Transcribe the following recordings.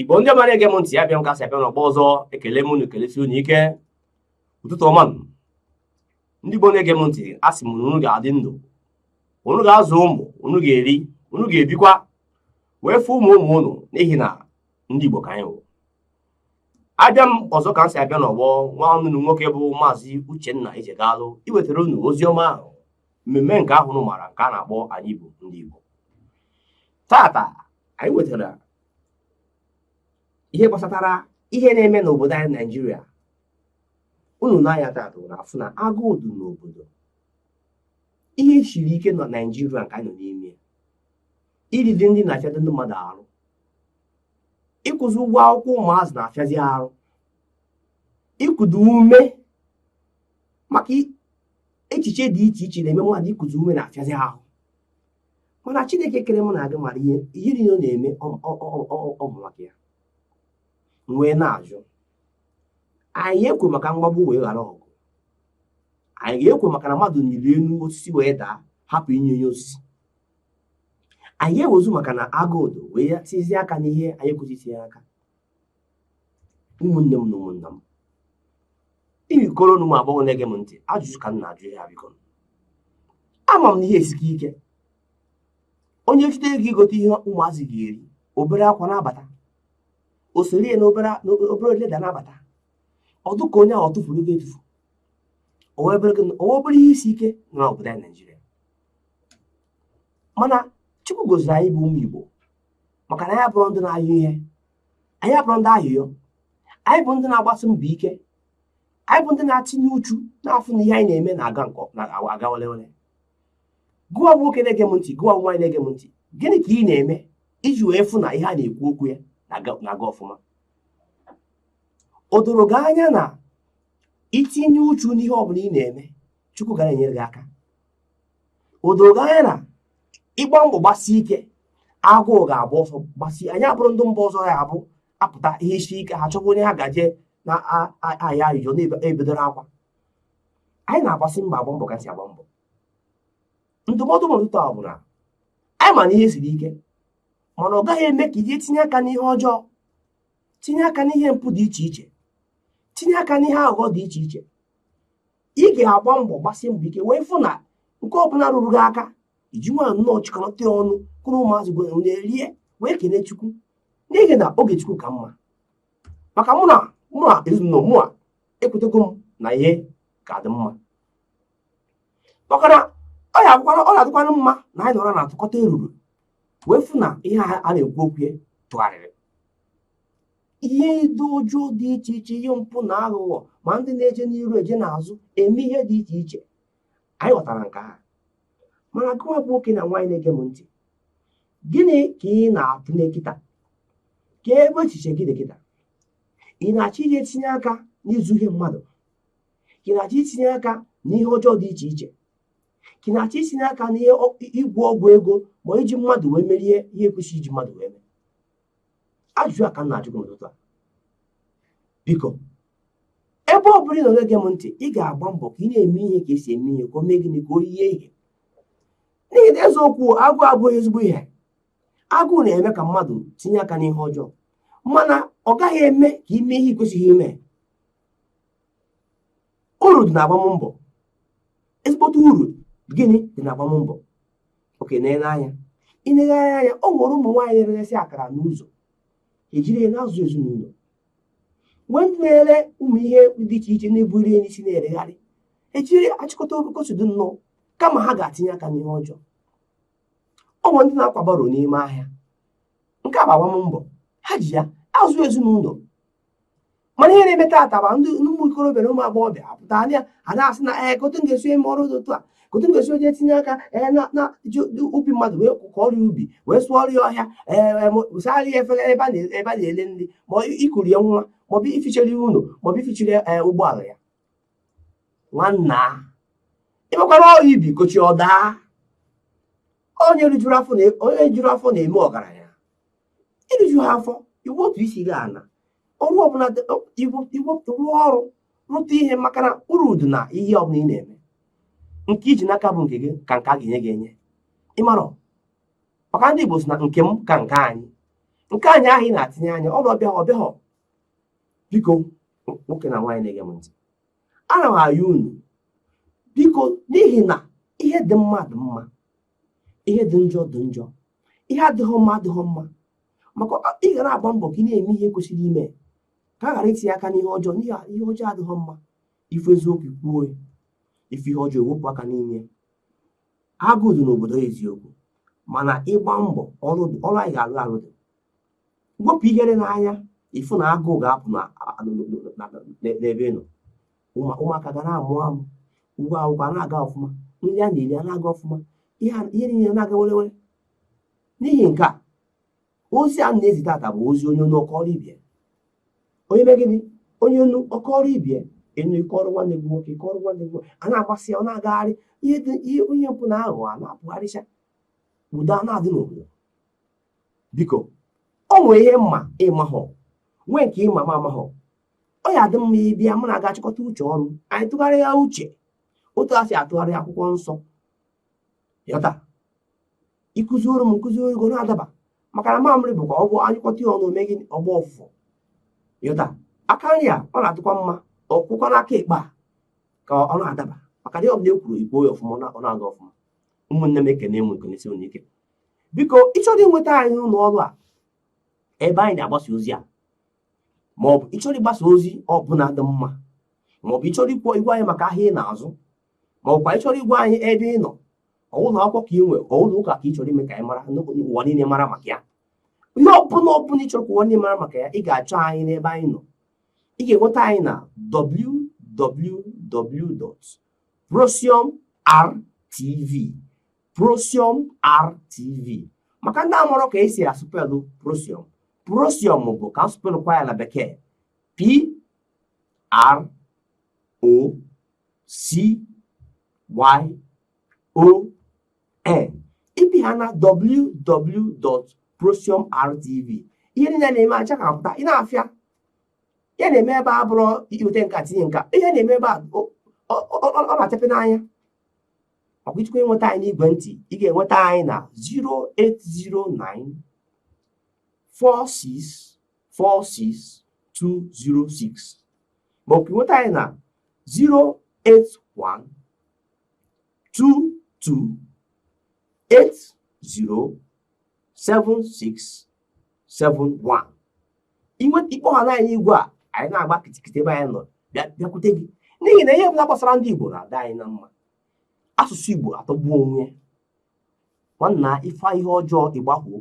igbo ndị ọma na-ege m ntị abịa m ka m si abịa n'ọgbọ ọzọ ekele m unu kelesie unu ike ụtụtụ ọma nụ ndị igbo na-ege m ntị asị m na unu ga-adị ndụ unu ga-azụ ụmụ unu ga-eri unu ga-ebikwa wee fụ ụmụ ụmụ unu n'ihi na ndị igbo ka anyị wụ abịa m ọzọ ka m si abịa n'ọgbọ nwanne unu nwoke bụ maazị uchenna ijegalụ iwetara unu ozi ọma ahụ mmemme nke ahụ unu maara nke a na-akpọ anyị bụ ndị Igbo tata anyị wetara ihe gbasatara ihe na-eme n'obodo anyị Naijiria unu n'anya tata na-afụ na agụụ dị n'obodo ihe siri ike na Naijiria nke anyị nọ n'ime iridi nri na-afịadị ndị mmadụ arụ ịkwụzi ụgwọ akwụkwọ ụmụazị na-afịazi arụ ikudu ume maka echiche dị iche iche na-eme mmadụ ikuzi ume na-afịazi ahụ mana chineke kere mụ na gị mara ihe ihe niile ọ na-eme ọ bụ maka ya wee na-ajụ anyị ga-ekwu maka mgbagbu wee ghara ọgụ anyị ga-ekwu maka na mmadụ nyiri elu osisi wee daa hapụ inyi elu osisi anyị ga-ekwuzi maka na agụụ dị wee tizie aka n'ihe anyị ekwesịghị itinye aka ụmụnne m na ụmụnna m ikoro na ụmụ agbọghọ na-ege m ntị ajụjụ ka m na-ajụ ihe a biko ama m na ihe esika ike onye chụte ego igote ihe ụmụazị ga-eri obere akwa na-abata o soro ya n'obere leather na-abata ọ dị ka onye ahụ ọ tufuru ego etufu o nwe obere ihe isi ike n'obodo anyị naijiria mana chukwu goziri anyị bụ ụmụ igbo maka na anyị abụrọ ndị na-ayọ ihe anyị abụrọ ndị ayịyọ anyị bụ ndị na-agbasi mbọ ike anyị bụ ndị na-atinye uchu na-afụ na ihe anyị na-eme na-aga wele wele gịnwa nwoke na-ege m ntị gịnwa nwaanyị na-ege m ntị gịnị ka ị na-eme iji wee fụ na ihe a na-ekwu okwu ya na-aga ọfụma o doro gị anya na i tinye uchu n'ihe ọ bụla ị na-eme chukwu ga na-enyere gị aka o doro gị anya na ị gbaa mbọ gbasie ike agụụ ga-agba ọsọ gbasie anyị abụrọ ndị mba ọzọ ya bụ a pụta ihe sie ike ha chọwa onye ha ga-eje na-ayọ ayịyọ na-ebedoro akwa anyị na-agbasi mbọ agba mbọ ka e si agba mbọ ndụmọdụ m ụtụtụ a bụ na anyị ma na ihe siri ike mana ọ gaghị eme ka anyị tinye aka n'ihe ọjọọ tinye aka n'ihe mpụ dị iche iche tinye aka n'ihe aghụghọ dị iche iche ị ga-agba mbọ gbasi mbọ ike wee fụ na nke ọbụla ruru gị aka iji nwa nnọọ chịkọta ọnụ kuru ụmụazị gwa na-erie wee kelee chukwu n'ihi na oge chukwu ka mma maka mụ na mụ na ezinụlọ mụa ekwetego m na ihe ga-adị mma maka na ọ na-adịkwa mma na anyị nọrọ na-atụkọta eruru wee fụ na ihe a na-ekwu okwu ya tụgharịrị ihe ndị ọjọọ dị iche iche ihe mpụ na aghụghọ ma ndị na-eje n'iru eje n'azụ eme ihe dị iche iche anyị ghọtara nke ahụ mana gịwa bụ nwoke na nwaanyị na-ege m ntị gịnị ka ị na-atụ anya kịta kee ebe echiche gị dị kịta ị na-achọ itinye aka n'izu ihe mmadụ ka ị na-achọ itinye aka n'ihe ọjọọ dị iche iche ka ị na-achọ itinye aka n'ihe ịgwọ ọgwụ ego ma iji mmadụ wee merie ihe ekwesịghị iji mmadụ wee mee ajụjụ a ka m na-ajụ gị n'ụtụtụ a biko ebe ọ bụla ị nọ na-ege m ntị ị ga-agba mbọ ka ị na-eme ihe ka esi eme ihe ka o mee gịnị ka o yie ihe n'ihi na eziokwu agụụ abụghị ezigbo ihe agụụ na-eme ka mmadụ tinye aka n'ihe ọjọọ mana ọ gaghị eme ka i mee ihe ị kwesịghị ime uru dị na agbammbọ ezigbote uru gịnị dị na agbammbọ okay na-ele anya ịneghe anya ya ọ nwere ụmụ nwaanyị na-eresị akara n'ụzọ ejiri ya na-azụ ezinụlọ nwee ndị na-ere ụmụ ihe dị iche iche na-eburu ihe n'isi na-eregharị ejiri achịkọta ka o si dị nnọọ kama ha ga-atinye aka n'ihe ọjọọ ọ nwere ndị na-akwa barrow n'ime ahịa nke a bụ agbammbọ ha ji ya azụ ezinụlọ mana ihe na-eme taata ma ndị ụmụ ikorobịa na ụmụ agbọghọbịa apụta anya a na-asị na ee kee otu m ga-esi eme ọrụ dị otu a kee otu m ga-esi eje tinye aka ee na na ije ubi mmadụ wee kọọrọ ya ubi wee sụọrọ ya ọhịa ee wee saara ya efere ebe a na- ebe a na-ere nri maọbụ ikuru ya nwa maọbụ ifichara ya ụlọ maọbụ ifichara ya ee, ụgbọala ya nwanna ịgbakwara ọrụ ubi kochi ọ daa onye rijuru afọ na- onye rijuru afọ na-eme ọgaranya i rijuhọ afọ iwu otu isi gaa n'ọrụ ọbụla iwepụta rụọ ọrụ rụta ihe maka na uru dị na ihe ọbụla ị na-eme nke i ji n'aka bụ nke gị ka nke a ga-enye gị enye ịmarọ maka ndị Igbo sị na nke m ka nke anyị nke anyị ahụ ị na-atinye anya ọ bụ ọ bịa ọ bịahọ biko nwoke na nwaanyị na-ege m ntị ana m ayọ unu biko n'ihi na ihe dị mma dị mma ihe dị njọ dị njọ ihe adịghị mma adịghị mma maka ị ga na-agba mbọ ka ị na-eme ihe i kwesịrị ime ka ị ghara itinye aka n'ihe ọjọọ n'ihi ihe ọjọọ adịghị mma ị fụ eziokwu kwuo ị fụ ihe ọjọọ i wepụ aka n'ime ya agụụ dị n'obodo eziokwu mana ịgba mbọ ọrụ anyị ga-arụ arụ dị wepụ ihere n'anya ị fụ na agụụ ga-apụ n'ebe ị nọ ụmụaka ga na-amụ amụ ụlọ akwụkwọ a na-aga ọfụma nri a na-eri a na-aga ọfụma ihe niile na-aga werewere n'ihi nke a ozi a na-ezi tata bụ ozi onye nụ ọ kọọrọ ibie onye mee gịnị onye nụ ọ kọọrọ ibie ị nụ ị kọọrọ nwanne gị nwoke ị kọọrọ nwanne gị nwoke a na-agbasa ya ọ na-agagharị ihe dị ihe onye mpụ na aghụghọ a na-apụgharịcha udo a na-adị n'obodo biko o nwere ihe m ma ị mahọ nwee nke ị ma m amahọ ọ ya adị mma ị bịa mụ na gị achịkọta uche ọnụ anyị tụgharịa uche otu e si atụgharị akwụkwọ nsọ yọta i kuzioro m m kuzioro gị ọ na-adaba maka na amamihe bụ ka ọ bụ anyịkọta ya ọnụ megị ọgbọ ọfụfụ yọta aka nri a ọ na-atụkwa mma ọkwụkwa n'aka ekpe a ka ọ na-adaba maka na ọ bụ na e kwuru igbo ya ọfụma ọ na-aga ọfụma ụmụnne m ekenee m ekenesie unu ike biko ị chọrọ inweta anyị n'ụlọ ọrụ a ebe anyị na-agbasa ozi a ma ọ bụ ị chọrọ ịgbasa ozi ọbụla dị mma ma ọ bụ ị chọrọ ikwu ịgwa anyị maka ahịa ị na-azụ ma ọ bụkwa ị chọrọ ịgwa anyị ebe ị nọ ọ wụ ụlọ akwụkwọ ka i nwe ọ wụ ụlọ ụka ka ị chọrọ ime ka anyị mara ụwa niile mara maka ya ihe ọbụla ọbụla ị chọrọ ka ụwa niile mara maka ya ị ga-achọ anyị n'ebe anyị nọ ị ga-enweta anyị na www.procyonrtv procyonrtv maka ndị amarọ ka e si asụpelụ procyon procyon bụ ka a sụpekwaa ya na bekee p r o c y o n ị pịa ha na www.procyonrtv ihe niile na-eme achakapụta ị na-afụ ihe a na-eme ebe a ọ bụrụ i weta nka tinye nka ihe na-eme ebe a ọ na-achape n'anya ọkwa ị chọkwa inweta anyị n'igwe ntị ị ga-enweta anyị na 0809 08046464206 ma ọ bụ nweta anyị na 081 two two eight zero seven six seven one ị kpọhana anyị igwe a anyị na-agba kịtịkịtị ebe anyị nọ bịakwute gị n'ihi na ihe ọbụla gbasara ndị Igbo na-adị anyị na mma asụsụ Igbo atọgbuo onwe nwanna ị fụ ihe ọjọọ ị gbakwuo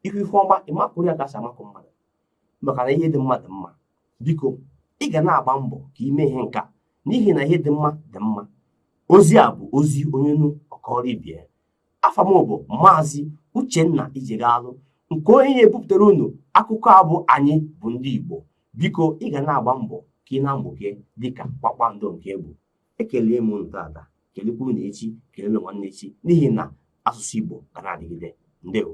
ihu ị fụ ihe ọma ị makụ ya ka e si amakụ mmadụ maka na ihe dị mma dị mma biko ị ga na-agba mbọ ka i mee ihe nka n'ihi na ihe dị mma dị mma ozi a bụ ozi onye nụ ọ kọọrọ ibie afa m bụ maazị uchenna ijegalụ nke onye na-ebupụtara unu akụkọ a bụ anyị bụ ndị igbo biko ị ga na-agba mbọ ka ị na-amụke dịka kpakpando nke ị bụ ekele m unu tata kelekwa unu echi kele unu nwanne echi n'ihi na asụsụ Igbo ga na-adịgide ndewo